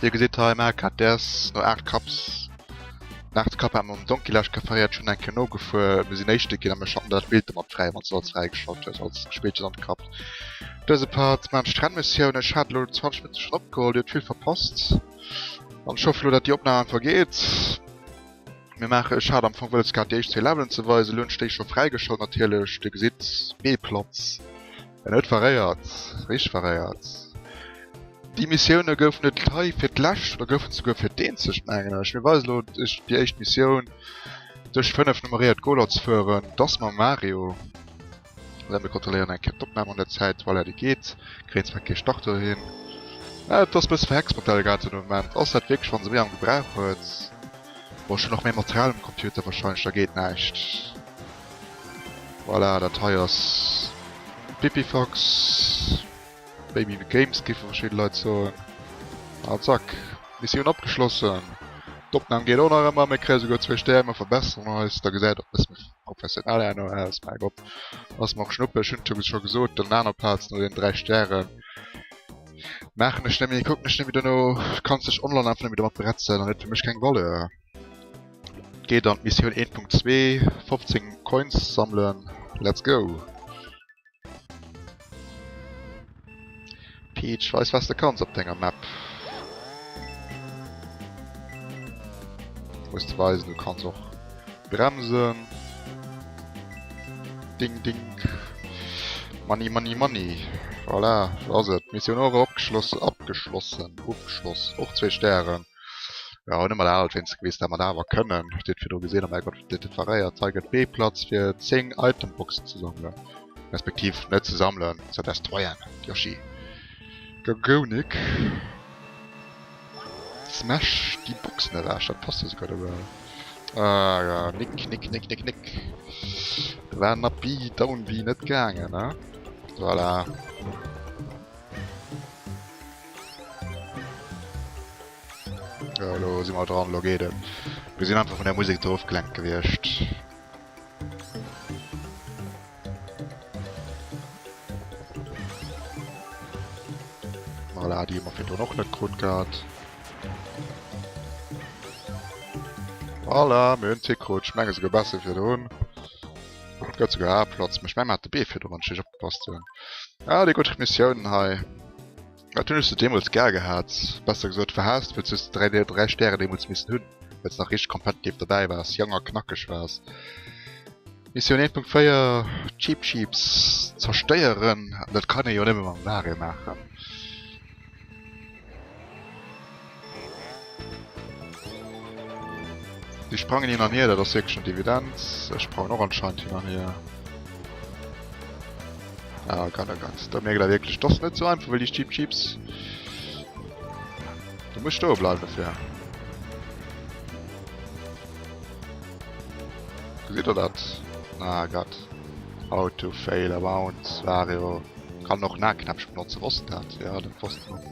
Dir gesitt hei maer grad däers no 8 Cups. Nach de Cup hat mam Donkey lech gefeiert, ech hunn eng Kéier nogefuer, mir sinn Éischte ginn a mech haten dat Bild domat fräi, wann s du als fräi geschalt hues, als Spillchen an Cup. Dëse Part maan ech drenn Missioun, ech hat elo 20 Minutte schon opgeholl, dir huet vill verpasst an ech hoffen elo dat déi Opnahm einfach geet. Mir maachen, ech hat am Fong wëlles gehat déi éischt zwee Levelen ze weisen, elo hunn ech déi scho fräi geschalt natierlech, dir gesitt Meeplatz. En huet verréiert, riicht verréiert. Déi Missioune goufen net hei fir d'lescht, oder goufen souguer fir d'eenzegt, mengen ech. Mir weisen elo iech déi éischt Missioun, duerch 5 nummeréiert Goler ze fueren. Et ass mam Mario. Voilà, mir kontrolléieren eng Kéier d'Opnam an der Zäit. Voilà, déi geet. Kréien zwar kee Start dohin. Ah, et ass e bësse verhext mat der Elgato de Moment. Ass dat wierklech, wa se méi am Gebrauch huet? Bon, ech hunn och méi Material um Computer, warscheinlech, da geet näischt. Voilà, dat hei ass d'Pipifax, maybe the games géife verschidde Leit soen. A zack, Missioun abgeschlossen. D'Opnam geet och nach ëmmer, mir kréie souguer zwee Stär, mir verbesseren eis, da gesäit och e bësse méi professionell herno aus. Mäi Gott, ass mer och Schnuppe, ech hunn et scho gesot op der aner Plaz no deenen dräi Stären. Maachen ech net méi, kucken ech net méi dono, kanns dech online einfach net méi domat bretzen an huet fir mech keng Valeur. Geet an d'Missioun 1.2, 15 Coins sammelen, let's go! Peach, weis was de kanns op denger Map! Muss de weisen du kanns och bremsen! Ding ding! Money money money! Voilà, do ass et! Missioun och abgeschlossen, ofgeschloss, och zwee Stären! Ja hunn ëmmer dat wéinst gewiss dat mer dat awer kënnen. Huet Dir et virdru gesinn? Oh mäi Gott, dat differéiert. Hei gëtt bee Platz fir 10 Itemboxen ze sammelen. Respektiv net ze sammelen, ze destroyen. Yoshi. Gagonic. Smash déi Boxen ewech, dat passt jo souguer dobäi. Ah ja, Nick, Nick, Nick, Nick, Nick. Da war den Up-B, Down-B net gaangen, ne? Voilà. Jo, lo si mer dran, lo geet et. Mir sinn einfach vun der Musek do ofgelenkt gewiescht. Voilà, déi hu mer virdrun och net krut gehat. Voilà, mir hunn d'Tier krut. Ech menge souguer besser wéi virdrun. Gëtt souguer A-Platz, mee ech menge mer hat de Bee virdrun, wann ech richteg opgepasst hunn. Ah, déi gutt Missiounen hei. Dat hunn ech se deemools gar gehat, besser gesot verhaasst, wëlls hues de dräi déi dräi Stären deemools missen hunn, wëlls nach richteg competitive dobäi waars, jonk a knackeg waars. Missioun 1.4, Cheep Cheeps zerstéieren, an dat kann ee jo nëmme mam Wario maachen. Déi sprangen hin an hier, dat ass wierklech net evident. Ech brauchen och anscheinend hin an hier. Ah, Gott, oh Gott. Da mierkt der wierklech, dass net sou einfach, well déi Cheep Cheeps... Du muss stoe bleiwen dofir. Gesitt der dat? Ah, Gott. Auto fail, Bounce, Wario. Kann och Nahknäppchen benotzen, wosst dat? Ja, dat wosst ech.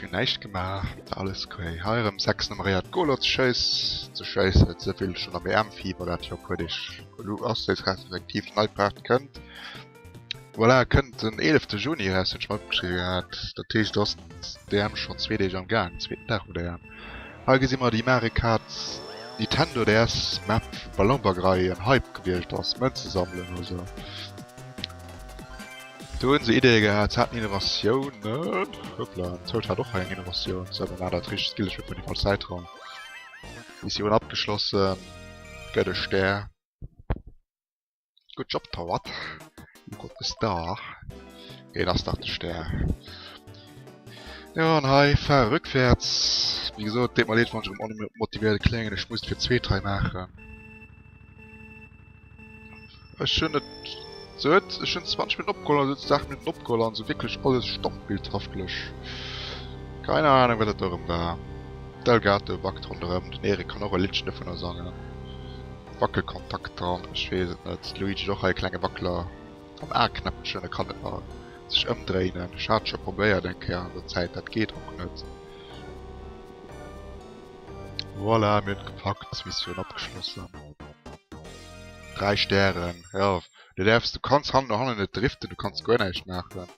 Schon näicht gemaach, alles okay. Heirem 6 Nummeréiert Golo ze schëiss ze schëissen, ze vill schon am EM Fieber dat jo puer Deeg elo ass déi respektiv nei Part kënnt. Voilà, kënnt den 11. Juni eraus, hunn ech mer opgeschriwwen gehat. Dat heescht ass d'EM schon zwee Deeg am gaang, zweeten Dag vun der EM. Hei gesi mer déi Mario Kart Nintendo DS Map wou Ballonberg-Rei en Hype gewiescht ass, Mënze sammelen oder sou. Do hun se Idee gehat, se haten Innovatiounen, hoppla, den Toad hat och hei eng Innovatioun, se haten awer dat richtegt Skill, ech huet mol déi falsch Säit rëm, Missioun abgeschlossen, gëtt e Stär. Good job Toad, you got the star, et ass dach de Stär. Jo an hei fahr e rückwärts, wéi gesot deet mer leed wann ech erëm onmotivéiert kléngen, ech muss et fir d'zweet hei maachen. Ech hunn et se huet ech hunn 20 Minuten opgeholl an se huet se 8 Minuten opgeholl an se wierklech alles standbildhaftlech. Keine Ahnung wat dat do erëm war. D'Elgato wackt ronderëm, den Erik kann och e Liddchen dovunner sangen. Wackelkontakt dran, ech weess et net. De Luigi huet och hei e klenge Wackeler am A-Knäppchen, e kann net mer sech ëmdréinen. Ech hat scho probéiert eng Kéier an der Zäit, dat geet och net. Voilà, mir hunn et gepackt, Missioun abgeschlossen. 3 Stären. Ja, du däerfs, du kanns hannen no hannen net driften, du kanns guer näischt maachen.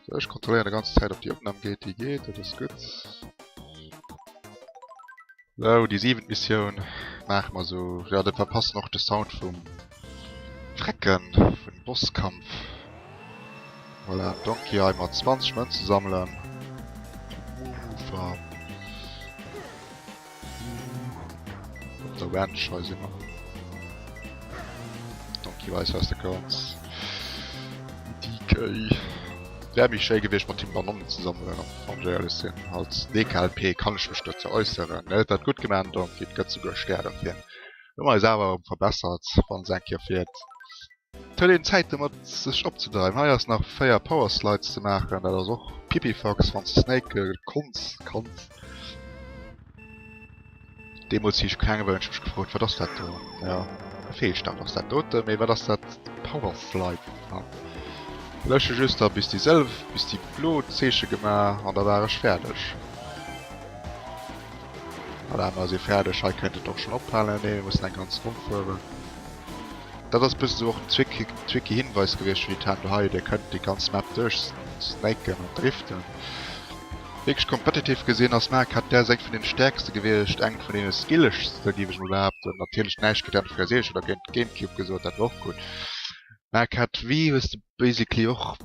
So, ech kontrolléieren der ganze Zäit op déi Opnahm geet, déi geet, dat ass gutt. So, déi siwent Missioun maache mer esou. Jo, dat war passend och de Sound vum Drecken, vum Bosskampf. Voilà, Donkey Eye mat 20 Mënze sammelen. Uuffer. Oder Wen scheiß immer. Donkey weiß was du kannst. DK. Wär mich schéi gewicht mat dem Banonnen ze sammeln an Jail sinn. Als DKLP kann ech mech dozou äusseren. Net dat gutt geman Donkey, et gëtt souguer Stär dofir. Hu mer eis awer erëm verbessert, wann se eng Kéier fir. Et huet een Zäit domat sech opzedreiwen. Hei ass nach 4 Power Slides ze maachen, dat ass och pipifax wanns de snaken konns, kanns. Deemols si ech kleng gewu hun ech mech gefrot wat ass dat do? Jo e Feelstart ass dat doten, mee wat ass dat Power Slide? An leuchte just da bis déi sëlw bis déi blo Zeeche gemaach an da war ech fäerdeg. Voilà mer si fäerdeg, hei kënnt et och schon ophalen, nee mir mussen eng ganz Ronn fueren. Dat ass bëssen esou och den Zwicky Hinweis gewiescht fir déi Tan doheie, dir kënnt déi ganz Map duerch snaken an driften. Wierklech competitive gesinn ass Mark hat däers eng vun den stäerkste gewiescht, eng vun den skillegste géif ech mol behaapten. Natierlech näischt géint N Frère Seerecht oder géint Gamecube gesot, dat war och gutt. Mark hat wéi hues de basically och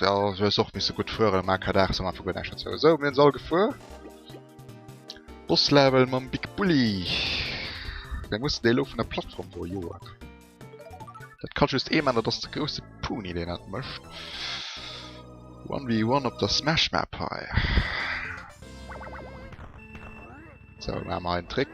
jo du hues och misse gutt fueren, Mark hat 8 sou am Anfang huet näischt derzou gesot. Sou mir hunn se all gefuer. Bosslevel mam Big Bully. Deng muss dee lo vun der Plattform do joen. Dat kann just ee man, dat ass de grousse Puni deen dat mëscht. 1v1 op der Smash Map hei. So, mat mer en Trick.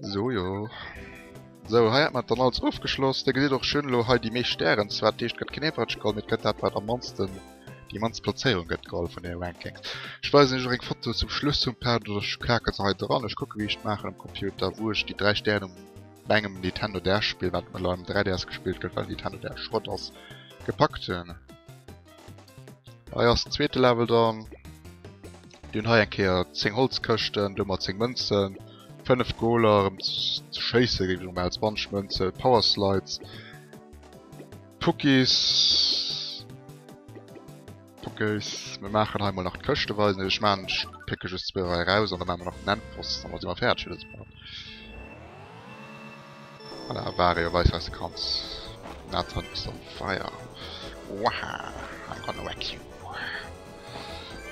So jo. So, hei hat man dann alles ofgeschloss. Der gesäit och schön lo hei déi meescht Stären. Zwar d'eescht gëtt keen Average geholl, mee et gëtt dat wat am mannsten, déi mannst Plazéierung gëtt geholl vun den Rankings. Ech weisen iech och eng Foto zum Schluss vum Part oder ech klaken se hei dran. Ech kucken wéi ech maachen am Computer wou ech déi 3 Stären um bei engem Nintendo DS Spill wat um 3DS gespillt gëtt well den Nintendo DS Schrott ass, gepackt hunn. Hei ass den zweete Level dann. Dun hei eng Kéier 10 Holzkëschten, do mat 10 Mënzen, 5 Goler, ëm ze schéisse géif ech emol maachen, 20 Mënze, Power Slides, Puckis, Puckis. Mir maachen hei mol nach d'Këschte weisen. Ech maachen, ech pécke just zwou hei eraus an da maache mer nach den Endboss, da si mer fäerdeg fir dëse Part. Voilà, war jo weis eise Kranz. Nathan is on fire. Waha, I'm gonna wreck you.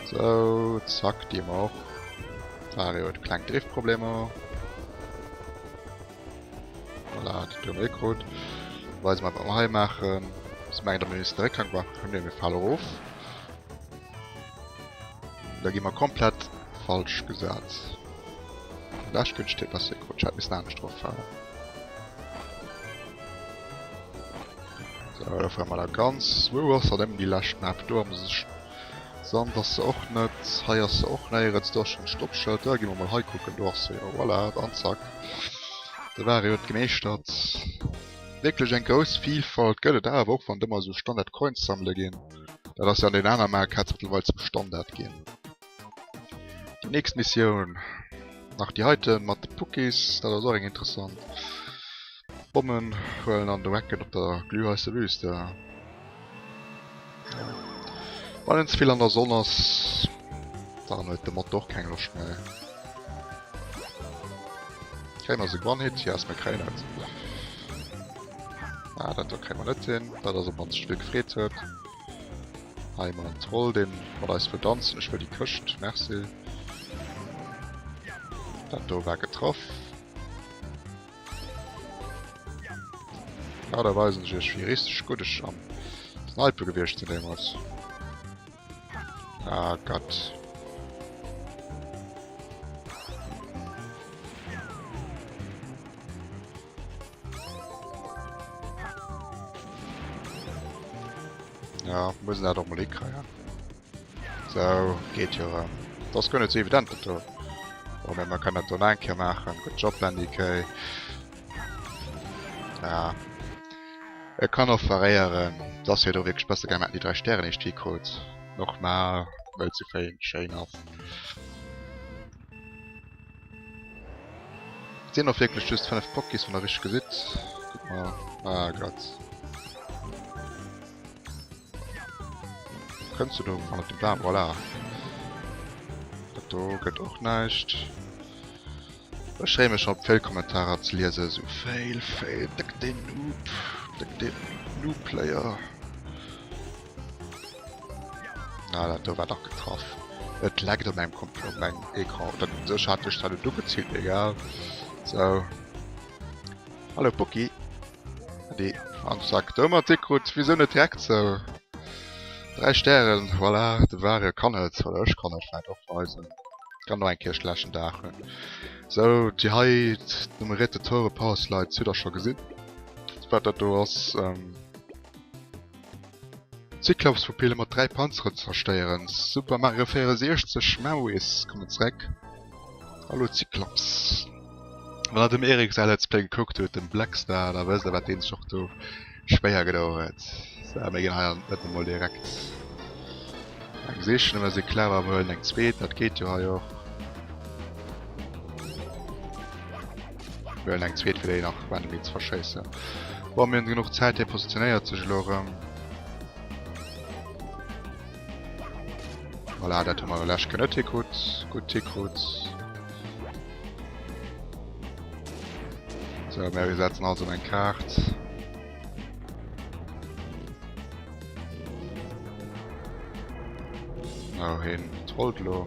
Sou, zack, dir mer och. D'Vario huet kleng Driftproblemer. Voilà, dat hun mir krut. Weise mer wat mer hei maachen. Ech menge, datt mir missen de Réckgang machen. Komm, mir fale roof. Da gi mer komplett falsch gesat. Lech gënscht hir besser gerutscht. Hätt missen anescht drop falen. So, da fahren wir da ganz. Wo ass dat ëm déi lescht Map? Do am Sand ass se och net. Hei ass se och néierens. Do ass schon d'Stoppschild. Da gi mer mol hei kucken. Do ass se jo. Voilà, an zack. De Ware huet gemeeschtert. Wierklech eng grouss Vielfalt gëtt et awer och, wann et ëmmer esou Standard Coins sammele ginn. Dat ass jo an den aner Mario Karts mëttlerweil zum Standard ginn. Déi nächst Missioun nach déi heite mat de Pukis, dat ass och eng interessant. Bommen huelen an de Wacken op der glühheisse Wüste. Wann een ze vill an der Sonn ass, dann huet de Mod och keng Loscht méi. Kréien ass e One-Hit, yes, mir kréien et. Ah, dat do kréie mer net hin. Dat ass op mannst e Spill gefreet huet. Hei mal en Troll, deen mat eis wëll danzen. Ech wëll déi Këscht. Merci. Dat do war getraff. Ja, da weisen ech iech, wéi richteg gutt ech am Snipe gewiescht sinn deemools. Ah, Gott. Ja, muss dat och mal ikreier. So, geht jo ran. Das gënne ze evident dat do. Oder man kann dat online ke machen. Good Job Landy Kay. Ja. Et kann och variieren, dass hier do wirklich besser gemerk die drei Sternen nicht die kurz. Nochmal, weil zu fein Chain ass. Et sinn och wierklech just 5 Pokés, wann der richteg gesitt. Kuck mol. Ah Gott. Kënns du do an op dem Bam? Voilà. Dat do gëtt och näischt. Ech freeë mech schon op d'Fail Kommentarer ze liesen. So Fail, Fail, dëck deen Noob, dëck deen Noob Player. Na, dat do war dach getraff. Et leckt op mengem Komp op mengem Ecran. Oder sech hat duerch dat et ugeziilt, egal. So. Hallo Pucki. Adi. Am Sack. Do mat Dick krut, wieso net direkt so? Dräi Stären, voilà, de Ware kann et. Oder ech kann et vläit och weisen. Kann nach eng Kéier schlechen Dag hunn. So, déi hei nummeréierte Tore Power Slides hutt der scho gesinn. Wat dat do ass, ähm. Cyclopspupille mat 3 Panzeren zerstéieren. Super Mario 64 Memories kommen zréck. Hallo Cyclops. Wann der dem Erik säi Let's Play gekuckt hutt, dem Blackstar, da wësst der wat deen sech och do schwéier gedou huet. Sou mir ginn hei net emol direkt eng sichen, mä si klauen emol eng zweet, dat geet jo hei och. Well eng zweet fir déi nach Quantum Beats verschéissen. Boah, mir hunn genuch Zäit, hie positionéiert sech elo erëm. Voilà, dat hu mer lech gënn net Tickut. Gutt Tickut. So, mir setzen also eng Kaart. No hin, trollt lo.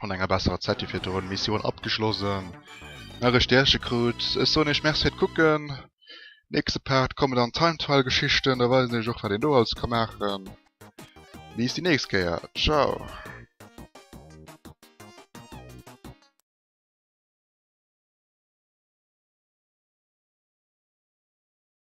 an enger besserer Zäit wie virdrun Missioun abgeschlossen nach e Stärche krut. Ech soen iech Merci fir d'Kucken. Nächste Part komme dann Time Trial Geschichten, da weisen ech och wat een do alles ka maachen. Bis déi nächst Kéier, ciao.